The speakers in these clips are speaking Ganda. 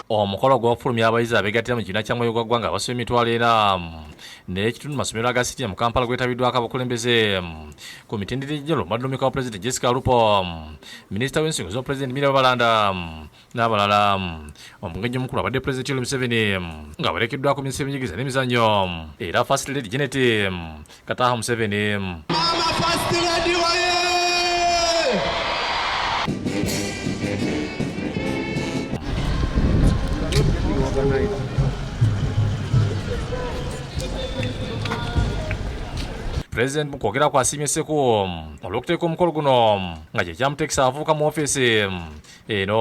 omukolo gw'okufulumya abayizi abeegattira mu kibiina kya mwoyo gwa ggwanga abasoma emitwalo era n'ekitundu masomero aga sitya mu kampala gwetabiddwako abakulembeze ku mitendera egyalo madumika wa pulezidenti jessica lupo minisita w'ensonga z'obupulezidenti mira balanda n'abalala omugenyi omukulu abadde pulezidenti yoweri museveni ng'awerekeddwako minisita y'ebyenjigiriza n'emizannyo era first lady genet Kataho Museveni. Mama First Lady waye! President mu kwogera kwasiimye Sseku olw'okuteeka omukolo guno nga kye kyamuteekisa avubuka mu ofiisi eno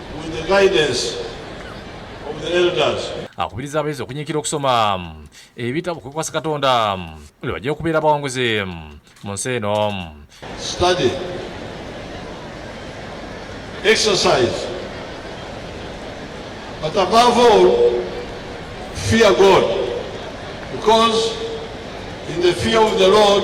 akubiriza abayizi okunyiikira okusoma ebitabo kwekwasa katonda lwe bajja okubeera abawanguzi mu nsi eno But above all, fear God. Because in the fear of the Lord,